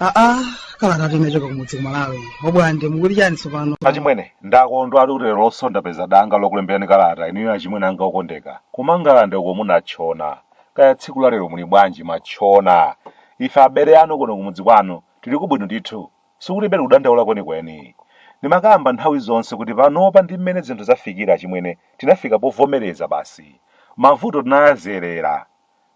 aa kalata imachoka kumudzi kumalawi obwande mukuti chani tsopano achimwene ndakondwatu lerolonso ndapeza danga lokulemberani kalata inuyo achimwene anga okondeka kumangalande uko munatchona kaya tsiku la lero muli bwanji matchona ife abale anu kuno kumudzi kwanu Tiliko bwino ndithu. Sikuti tiribe kudandaula kwenikweni. Ndimakamba nthawi zonse kuti panopa ndi mmene zinthu zafikira achimwene tinafika povomereza basi. Mavuto tinayazolowera.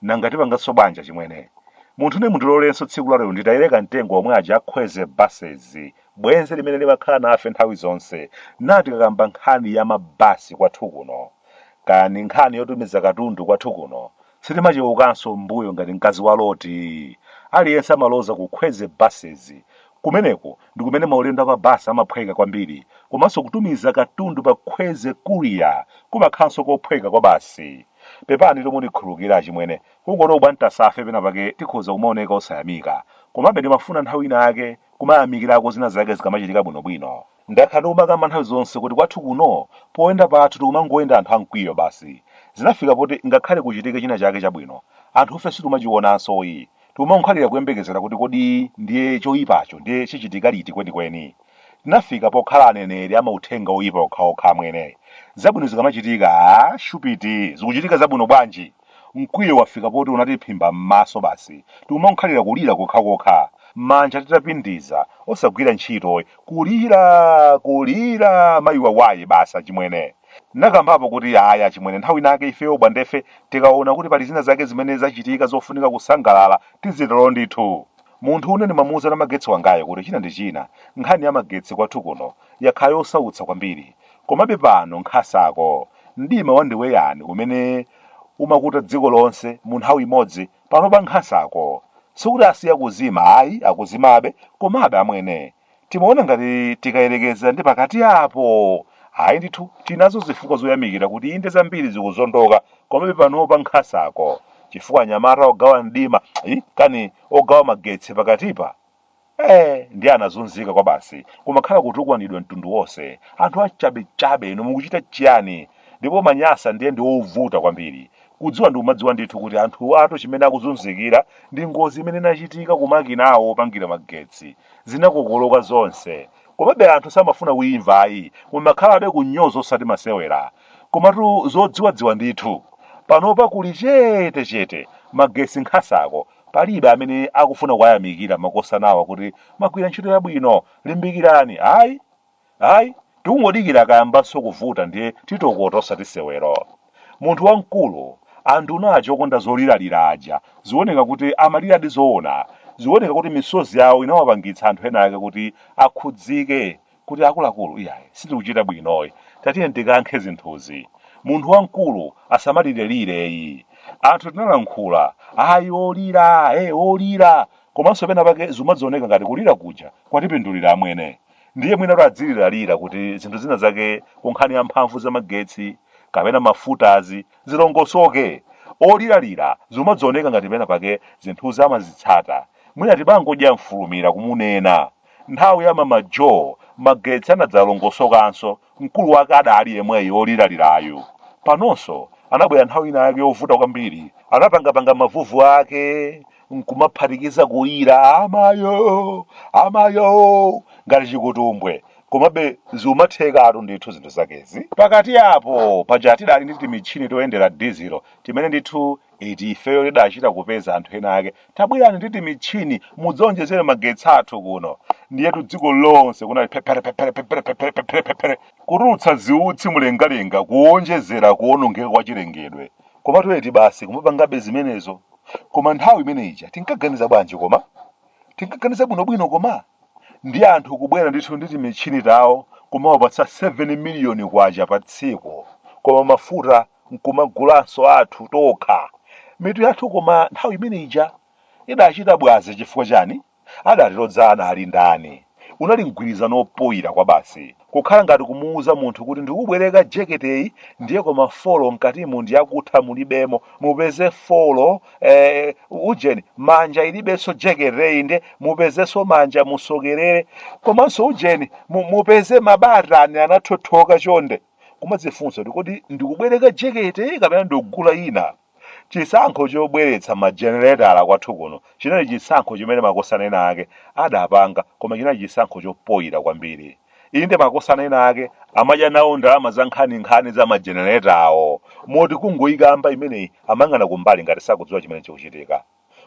Nanga tipanganso bwanji achimwene? Munthu ine mundilolenso tsiku la lero nditayire kamtengo omwe aja a Kwezy Buses, bwenzi limene limakhala nafe nthawi zonse, nnati tikakamba nkhani ya mabasi kwathu kuno. Kaya ndi nkhani yotumiza katundu kwathu kuno, Sitimacheukanso m'mbuyo ngati mkazi wa Loti. Aliyense amaloza ku Kwezy Buses. Kumeneko ndi kumene maulendo a pa basi amaphweka kwambiri. Komanso kutumiza katundu pa Kwezy Courier kumakhalanso kophweka kwabasi. Pepanitu mundikhululukire achimwene, kungoti a Bwantasafe penapake tikhoza kumaoneka osayamika. Komabe ndimafuna nthawi inayake kumayamikirako zina zake zikamachitika bwinobwino. Ndakhala ndikumakamba nthawi zonse kuti kwathu kuno poyenda pathu tikumangoyenda anthu a mkwiyo basi. Zinafika poti ngakhale kuchitike china chake chabwino, anthufe sitimachionansoyi. Tikumangokhalira kuyembekezera kuti kodi ndiye choipacho ndiye chichitika liti kwenikweni. Tinafika pokhala aneneri a mauthenga oipa okhaokha amwene. Zabwino zikamachitika, aah shupit, zikuchitika zabwino bwanji? Mkwiyo wafika poti unatiphimba m'maso basi tikumangokhalira kulira kokhakokha, manja titapindiza, osagwira ntchito, kulira, kulira, mayi wawaye basi achimwene. Ndinakambapo kuti ayi achimwene nthawi inayake ifeyo Bwandefe tikaona kuti pali zina zake zimene zachitika zofunika kusangalala tizitero ndithu. Munthu ine ndimamuuza namagetsi wangayo kuti china ndi china, nkhani ya magetsi kwathu kuno yakhala yosautsa kwambiri. Komabe pano nkhasako, mdima wandiweyani umene umakuta dziko lonse mu nthawi imodzi, panopa nkhasako, sikuti asiya kuzima ayi, akuzimabe, komabe amwene, timaona ngati tikayerekeza ndi pakati apo, ayi ndithu tinazo zifukwa zoyamikira kuti inde zambiri zikuzondoka, komabe panopa nkhasako, chifukwa anyamata ogawa mdima, kani ogawa magetsi pakatipa, ee ndiye anazunzika kwabasi kumakhala kutukwanidwa mtundu wonse anthu achabechabe inu mukuchita chiyani ndipo manyasa ndiye ndi ovuta kwambiri kudziwa ndikumadziwa ndithu kuti anthu awatu chimene akuzunzikira ndi ngozi imene inachitika kumakina awo opangira magetsi zinakokoloka zonse komabe anthu samafuna kuimva ayi kumakhalabe kunyoza osati masewera komatu zodziwadziwa ndithu panopa kuli chete chete magetsi nkhasako Palibe amene akufuna kuwayamikira makosanawa kuti mwagwira ntchito yabwino, limbikirani, ayi, ayi, tikungodikira akayambanso kuvuta ndiye titokota osati sewero. Munthu wamkulu, anduna aja okonda zoliralira aja zioneka kuti amaliradi zoona, zioneka kuti misozi yawo inawapangitsa anthu ena ake kuti akhudzike kuti akuluakulu iyayi sitikuchita bwinoyi tatiyeni tikankhe zinthuzi munthu wamkulu asamalirelire yi anthu tinalankhula ayi olira e olira komanso pena pake zimadzioneka ngati kulira kuja kwatipindulira amwene ndiye mwina kuti adziliralira kuti zinthu zina zake ku nkhani ya mphamvu za magetsi kapena mafutazi zilongosoke oliralira zimadzioneka ngati pena pake zinthuzi amazitsata mwina tibangodya mfulumira kumunena Nthawi ya Mama Jo, magetsi anadzalongosokanso, mkulu wake adaali yemweyu woliralirayu. Panonso, anabwera nthawi ina yake yovuta kwambiri. Anapangapanga mavuvu ake, nkumaphatikiza kulira, Amayo! Amayo! ngati chikutumbwe. Komabe, zikumathekatu ndithu zinthu zakezi. Pakati apo, paja tidaali ndi timatchini toyendera dizilo, timene ndithu eti ifeyo tidachita kupeza anthu ena ake tabwerani ndi timatchini mudzionjezere magetsi athu kuno ndiyetu dziko lonse kunali pepere pepere pepere pepere pepere pepere kutulutsa ziutsi mlengalenga kuonjezera kuonongeka kwa chilengedwe koma toyeti basi kumapangabe zimenezo koma nthawi imene ija tinkaganiza bwanji koma tinkaganiza bwinobwino koma ndi anthu kubwera ndithu ndi timatchini tawo kumawapatsa 7 miliyoni kwacha pa tsiku koma mafuta nkumagulanso athu tokha mitu yathu koma nthawi imene ija idachita bwazi chifukwa chani adatilodza anali ndani unali mgwirizano opoyira kwabasi kukhala ngati kumuuza munthu kuti ndikubwereka jeketeyi ndiye koma folo mkatimu ndiyakutha mulibemo mupeze folo eh, ujeni manja ilibenso jeketeyi nde mupezenso manja musokerere komanso ujeni mu- mupeze mabatani anathothoka chonde kumadzifunsa kuti kodi ndikubwereka jekete kapena ndikugula ina chisankho chobweretsa majenereta kwathu kuno chinali chisankho chimene makosana ena ake adapanga koma chinali chisankho chopoyira kwambiri inde makosana ena ake amadya nawo ndalama za nkhaninkhani za majeneretawo moti kungoyikamba imeneyi amang'ana kumbali ngati sakudziwa chimene chikuchitika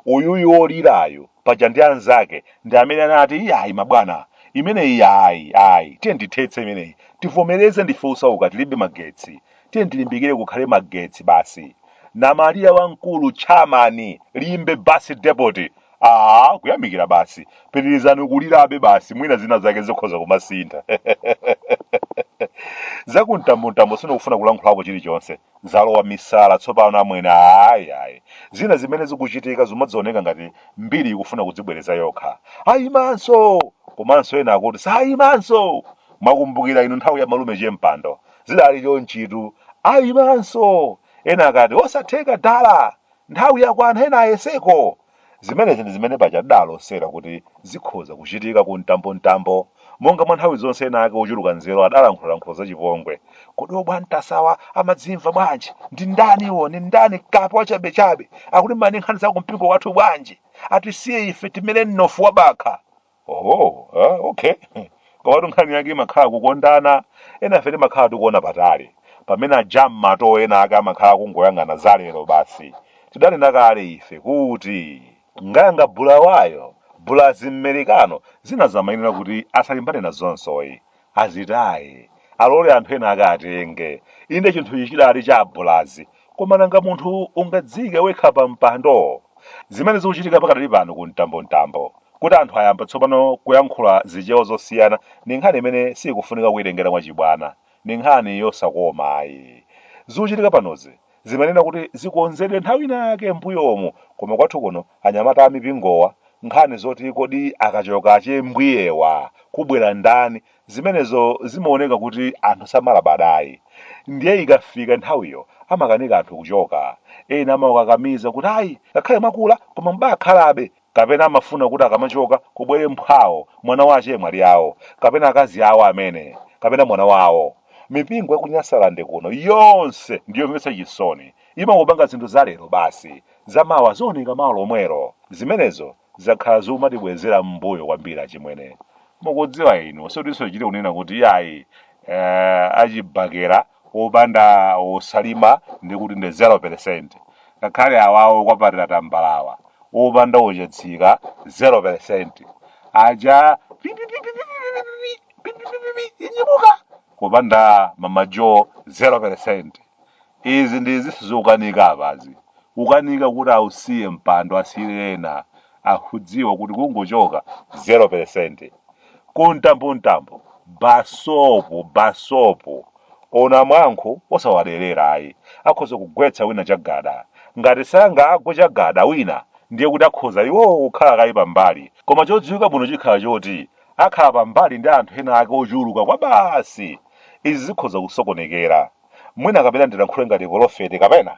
Uyuyu olirayu paja ndi anzake ndi amene anati iyayi mabwana imeneyi ayi ayi tiyeni tithetse imeneyi tivomereze ndife osauka tilibe magetsi tiyeni tilimbikire kukhale magetsi basi. Namalira wamkulu chairman Limbe bus depot aa kuyamikira basi pitirizani kulirabe basi mwina zina zake zikhoza kumasintha. Zakumtambomtambo sindikufuna kulankhulapo chilichonse. zalowa misala tsopano amwene ayi ayi zina zimene zikuchitika zimadzioneka ngati mbiri ikufuna kudzibwereza yokha ayimanso komanso ena akuti sayimanso mwakumbukira inu nthawi ya malume chempando zidali chonchitu ayimanso ena akati osatheka dala nthawi yakwana ena ayeseko Zimenezi ndi zimene paja adaalosera kuti zikhoza kuchitika ku mtambomtambo. Monga mwa nthawi zonse ena ake ochuluka nzeru adalankhulalankhula zachipongwe. Kodi obwantasawa amadzimva bwanji? Ndi ndani iwo? Ndi ndani kape wachabechabe? Akulimbana ndi nkhani za kumpingo wathu bwanji? Atisiye ife timene mnofu wa bakha! oh ah, okay komatu nkhani yake imakhala kukondana enafe timakhala tikuona patali pamene ajam mato ena ake amakhala akungoyang'ana zalero basi tidanena kale ife kuti ngayanga bulawayo bulazi mmerikano zinazi amayenera kuti asalimbane nazonsoyi Azitaye, alole anthu ena ake atenge. Inde chinthu ichi chidali cha abulazi, koma nanga munthu ungadziike wekha pa mpando? Zimene zikuchitika pakadali pano ku mtambomtambo, kuti anthu ayamba tsopano kuyankhula zichewa zosiyana ndi nkhani imene siikufunika kuitengera mwachibwana, ndi nkhani yosakoma ayi. Zikuchitika panozi zimayenera kuti zikonzedwe nthawi inayake m'mbuyomu koma kwathu kuno anyamata a mipingowa nkhani zoti kodi akachoka achembwiyewa kubwera ndani zimenezo zimaoneka kuti anthu samalabadayi ndiye ikafika nthawiyo amakanika anthu kuchoka ena amawakakamiza kuti ayi ngakhale mwakula koma mubakhalabe kapena amafuna kuti akamachoka kubwere mphwawo mwana wa achemwali awo kapena akazi awo amene kapena mwana wawo mipingo ya kunyasalande kuno yonse ndiyomvetsa chisoni imangopanga zinthu za lero basi zamawa zioneka mawa lomwero zimenezo zakhala zikumatibwezera m'mbuyo kwambiri achimwene mukudziwa inu sotinso tichite kunena kuti yayi eh, achibakera opanda osalima ndiye kuti ndi 0%. Ngakhale awawo okwapatira tambalawa opanda ochatsika 0%. Aja pipipipipipipipipi, pipipipipi, inyibuka kupanda mama Joe 0%. Izi ndi zinthu zikukanika apazi. Akukanika kuti ausiye mpando asiyire ena. akudziwa kuti kungochoka 0% ku mtambomtambo basopu basopu ona mwankho osawaderera ayi akhoza kugwetsa wina chagada ngati sangagwe chagada wina ndiye kuti akhoza iwowo kukhala kaye pambali koma chodziwika bwino chikhala choti akhala pambali ndi anthu ena ake ochuluka kwabasi izi zikhoza kusokonekera mwina kapena ndilankhule ngati polofeti kapena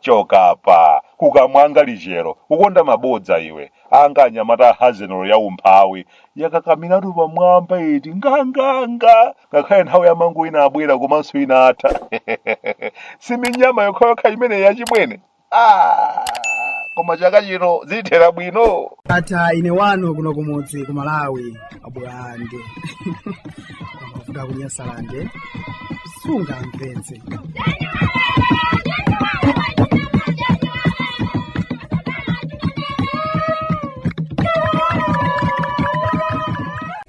choka apa kukamwanga lichero ukonda mabodza iwe anga anyamata a hazenero ya umphawi yakakamiratu pamwamba iti nganganga ngakhale nthawi ya mangu inabwera komanso inatha si minyama yokhayokha imene yachimwene Ah, koma chaka chino zitithera bwino ata ine wanu kuno kumudzi ku malawi abwande amavuta ku Nyasalande sunga mpenzi